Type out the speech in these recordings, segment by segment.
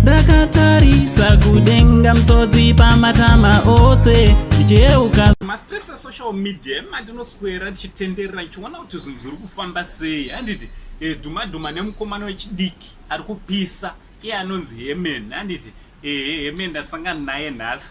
ndakatarisa kudenga mtsodzi pamatama ose ndichiyeuka mastreets esocial media emandinoswera tichitenderera ndichiona kuti zvinhu zviri kufamba sei handiti eh, dhumadhuma nemukomana wechidiki ari kupisa iye anonzi hemen handiti ehe hemen ndasangana naye nhasi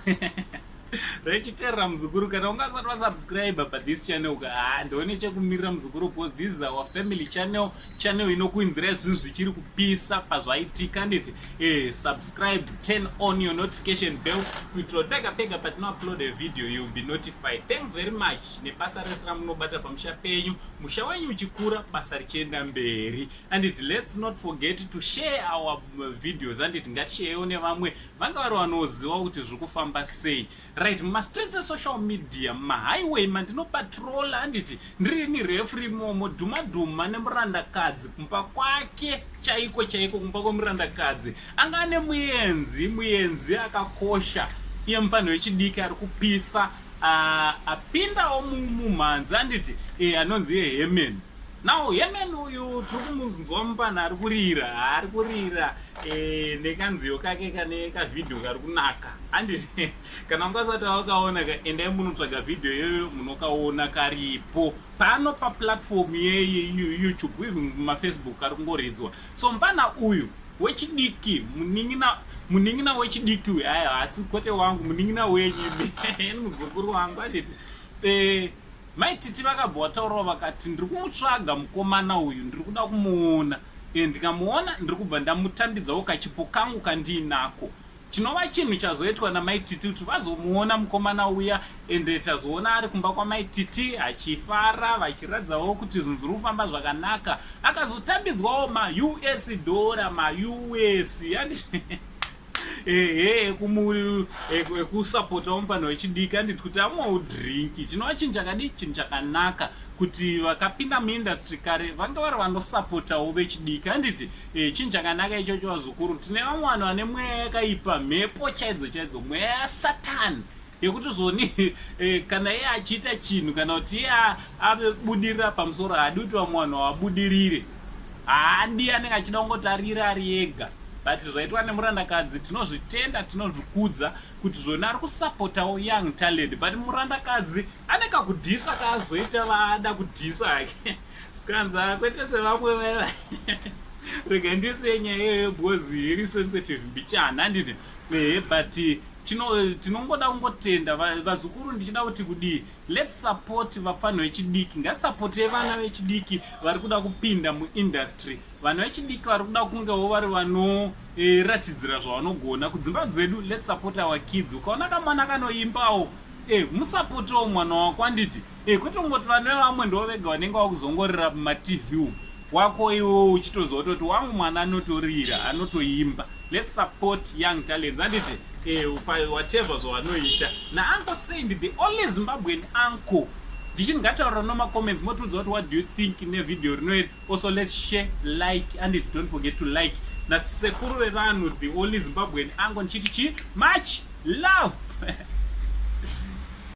rechiterera muzukuru kana ungasati wasubscribe pa this channel ka haa ndione chekumirira muzukuru because this is our family channel channel inokuinzirai zvinhu zvichiri kupisa pazvaitika nditi eh, subscribe turn on your notification bell kuitira kuti pega pega patinoupload a video youll be notified thanks very much nebasa rese ramunobata pamusha penyu musha wenyu uchikura basa richienda mberi anditi let's not forget to share our videos anditi ngatisheyewo nevamwe vanga vari vanoziva kuti zviri kufamba sei right mumastreets esocial media mumahighway mandinopatrola handiti ndiri nirefri momo dhumadhuma nemurandakadzi kumba kwake chaiko chaiko kumba kwemurandakadzi anga ane muenzi muenzi akakosha iye mufanhi wechidiki ari kupisa apindawo mumhanzi handiti e anonzi yehemen Now Heman uyu tiri kumunzwa mupana ari kurira ari kurira eh, nekanziyo kake kane kavhidhiyo kari kunaka andi kana ungasati wakaona ka endai munotsvaga vhidhiyo iyoyo munokaona karipo pano paplatform yeyoutube uye mumafacebook kari kungoridzwa so mupana uyu wechidiki munin'ina munin'ina wechidiki uyu aya asi kwete wangu munin'ina wenyu muzukuru wangu anditi eh, Mai Titi vakabva vataurawo vakati ndiri kumutsvaga mukomana uyu ndiri kuda kumuona and ndikamuona ndiri kubva ndamutambidzawo kachipo kangu kandiinako chinova chinhu chazoitwa namai Titi kuti vazomuona mukomana uya and tazoona ari kumba kwamai Titi achifara vachiratidzawo kuti zvinhu zviri kufamba zvakanaka akazotambidzwawo maUS dhora maUS ehe kumuviri ekusapota womufana wechidiki anditi kuti amwawo drinki chinova chinhu chakadii chinhu chakanaka kuti vakapinda muindustry kare vanga vari vanosapotawo vechidiki handiti e, chinhu chakanaka ichocho vazukuru tine vamwe vanhu vane mweya yakaipa mhepo chaidzo chaidzo mweya yasatani yekuti zvoni e, kana iye achiita chinhu kana kuti iye Ave budirira pamusoro haadi kuti vamwe vanhu vabudirire. Haadi anenge achida kungotarira ari ega. But zvaitwa nemurandakadzi tinozvitenda tinozvikudza kuti zvona ari kusapotawo young talent but murandakadzi ane kakudhisa kaazoita vaada kudhisa hake zvikanzi akwete sevamwe vaya rega ndisiye nyaya iyoyo because iri sensitive mbichana handine ehe but tinongoda kungotenda vazukuru ndichida kuti kudii Let's support vapfanha vechidiki. Ngatisapotei vana vechidiki vari kuda kupinda muindustry. Vana vechidiki vari kuda kungewo vari vanoratidzira eh, zvavanogona. Kudzimba dzedu, let's support our kids. Ukaona kamwana kanoimbawo, eh, musapotewo mwana wako anditi. Eh, kwete kungoti vana vevamwe ndo vega vanenge vakuzongorira mumatv umu. wako iwowo uchitoziva kutoti wangu mwana anotorira anotoimba let's support young talents anditi eh, whatever zvavanoita naanko said the only zimbabwean anko ndichiti ngataurira nomacomments motiudza kuti what do you think nevideo rino iri also let's share like anditi don't forget to like nasekuru vevanhu the only zimbabwean anko ndichiti chii much love